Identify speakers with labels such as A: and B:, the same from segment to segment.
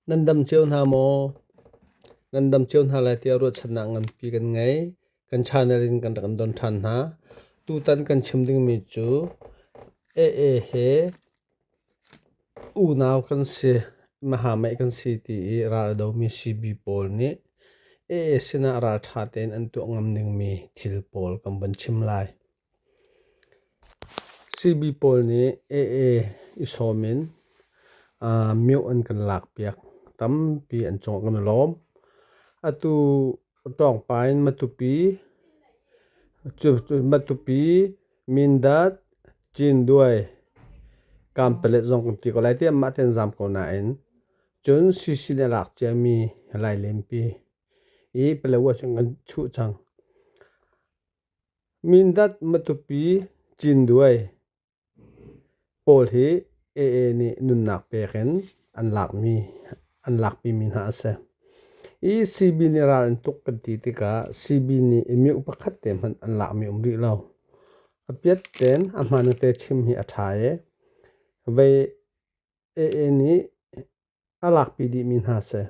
A: Nan dam cio hna maw? Nan dam cio hna lai tiah ruahchannak nganpi kan ngei. Kan channel in kan rak kan don ṭhan hna. Tutan kan chim dingmi cu AA he unau kan si, mahameih kan si ti i ral a domi sibi pawl nih AA sinah ralṭha tein an tuah ngam dingmi thil pawl kan van chim lai. Sihni pawl nih ee i sawm in mioh an kan lakpiak. Tampi an cawng kan i lawm. Atu ṭawngpa in Matupi, Matupi, Mindat, Cinduai, Kanpalet zong kan ti ko lai tiah mahte an zaam ko nain cun sihni a lak ciami a lai lempi i Palau ahcun kan chuh cang. Mindat Matupi Cinduai pawl hi AA nih nunnak pek in an lakmi an lakpimi hna a si. I CB nih ral an tuk kan ti tikah CB nih i mioh pakhat te hmanh an lakmi um rih lo. A piat ten a hman te chim hi a ṭha i vei AA nih a lakpi dih mi hna si.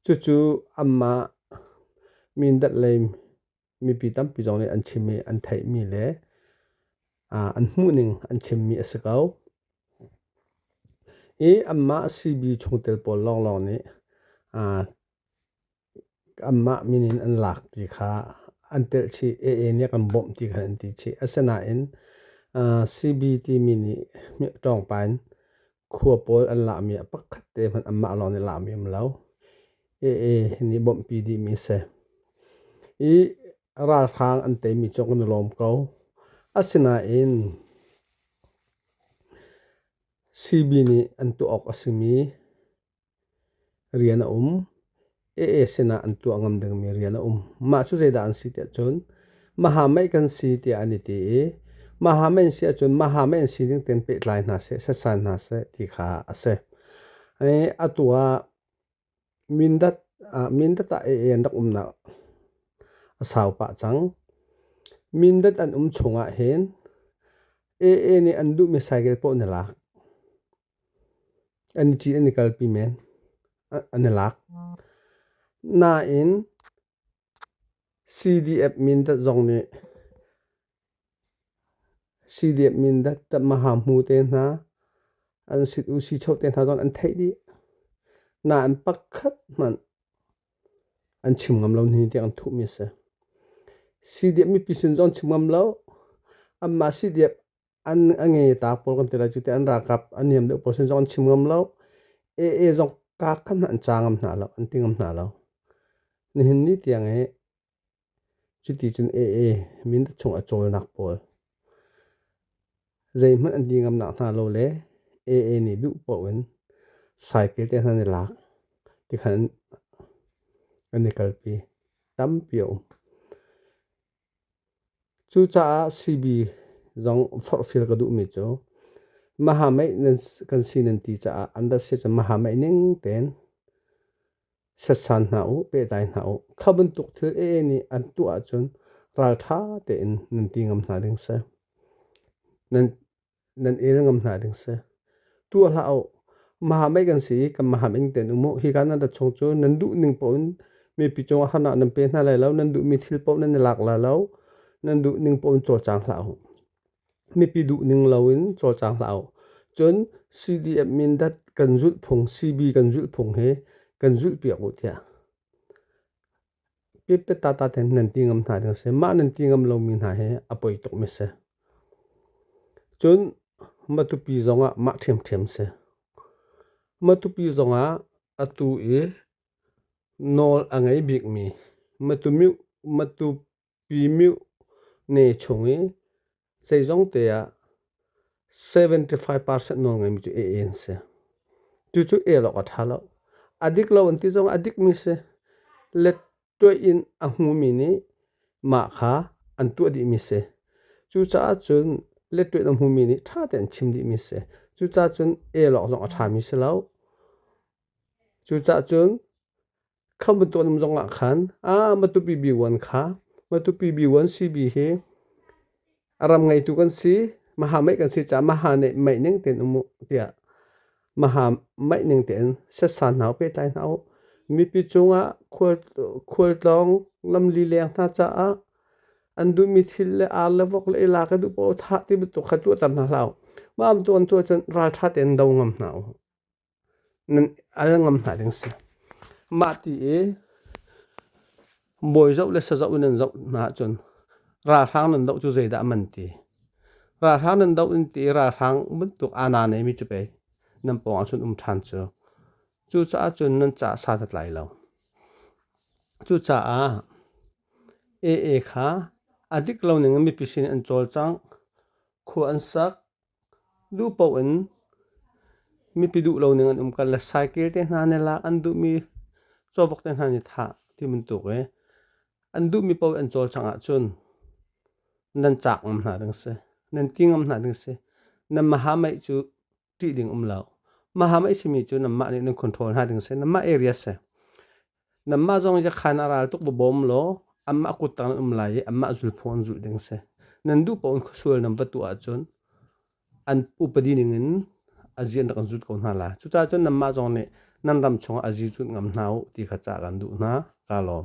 A: Cucu anmah Mindat lei mipi tampi zong nih an chim i an theih mi le an hmuh ning an chim mi a si ko. I anmah CB chungtel pawl lawnglawng nih anmah min in an lak ti kha an telh chih. AA nih a kan bawmh ti kha an ti chih. Asinain CB timi nih ṭawngpa in khua pawl an lahmi a pakhat te hmanh anmah lawng nih lahmi um lo. AA nih bawmhpi dihmi a si. I ralhrang an teimi cu kan i lawm ko. Asinain CB nih an tuah awk a simi rian a um. AA sinah an tuah ngam dingmi rian a um. Mah cu zeidah an si tiah cun mahamei kan si tiah an i ti i mahamei an si ahcun mahamei an si ding tein pehtlai hna seh, setsan hna seh ti kha a si. Atu ah Mindat ah Mindat ah AA an rak umnak a sau pah cang. Mindat an um chung ahhin AA nih an duhmi cycle paoh na lak. An i cih an i kalpi men an i lak. Nain CDF Mindat zong nih CDF Mindat maha hmu te hna an sit u si cho te hna zong an theih dih. Nain pakhat hmanh an chim ngam lo nihin tiang an thuhmi a si. CDF mipi sin zong chim ngam lo. Anmah CDF an a nge ta pol kan ti lai cu te an rakap an niam deuh pawl sin zong an chim ngam lo ee zong ka kam an cha ngam hna lo an ti ngam hna lo nihin ni tiang e cuti cun ee min chung a cawlnak pawl zeihmanh an di ngam nak hna lo le ee nih duh poh in cycle te hna ni lak ti khan an i kalpi tampi a um Cucaah CB zong forhfial ka duhmi cu mahameih kan si nan ti caah an rat si cu mahameih ning tein setsan hna u, pehtlai hna u. Kha bantuk thil ee nih an tuah ahcun ralṭha tein nan ti ngam hna ding si. Nan nan el ngam hna ding si. Tu a hlah u. Maham ei kan si i kan maham ing ten um u. Hi kan nan chung cu nan duh ning po in mi pi cung ahana nan pe hna lai lo. Nan duh mi thil po nan i lak la lo. Nan duh ning po in cawlcang hlah u. Mi pi duh ning lo in cawlcang hlah u. Cun CDF min dat kan zulh phung, CB kan zulh phung hi kan zulh piak u tiah. Pipettata tein nan ti ngam hna ding a si. Mah nan ti ngam lomi hna hi a poi tukmi a si. Cun matupi zongah mah ṭhiamṭhiam a si. Matupi zongah atu i nawl a ngei bikmi matu myu matu Myu ne chung i zeizongte ah seventy-five percent nawl ngeimi cu a an si. Cucu el awk a ṭha lo. A dik lo an ti zong a dikmi si. Lettuih in a hmumi nih mah kha an tuah dihmi si. Cucaah cun lettuih in a hmumi nih ṭha tein chim dihmi si. Cucaah cun el awk zong a ṭhami si lo. Cucaah cun Kha bantuan um zongah khan a Matupi B1 kha Matupi B1 CB hi a ram ngeitu kan si maha mei kan si ca maha ne mei ning ten umu tiah maha mei ning ten sesa nau pe tlai hna u mipi cungah khualtlawng lamli leng hna caah an duhmi thil le ar le vok le ila ka duh paoh thah ti bantuk kha tuahter hna hlah u mah amtuan tuah cun ralṭha tein do ngam hna u nan al ngam hna ding si. Mah ti i bawi zoh le sazoh in nan zoh hna ahcun ralhrang nan doh cu zeidah a man ti. Ralhrang nan doh in ti i ralhrang bantuk aa na neimi cu pei nan pawngah cun um ṭhan cu. Cucaah cun nan caah sadat lai lo. Cucaah AA kha a dik lo ning in mipi sin in an cawlcang, khua an sak, Duh paoh in mipi duh lo ning an um ko. Le cycle te hna nih lak an duhmi cawvok te hna nih thah ti bantuk i an duhmi paoh an cawlcang ahcun nan cak ngam hna ding si. Nan ti ngam hna ding si. Nan mahamaih cu ṭih ding um lo. Mahamaih simi cu nanmah nih nan control hna ding si. Nanmah area si. Nanmah zong yakhan a ral tuk va bawm law anmah kut tang an um lai i anmah zulphung an zulh ding a si. Nan duh paoh in khuasual nan va tuah ahcun an upadi ningin a zi an rak in zut ko hna lai. Cucaah cun nanmah zong nih nan ram chungah a zi zut ngam hna u ti kha ca kan duh hna. Kaa lawm.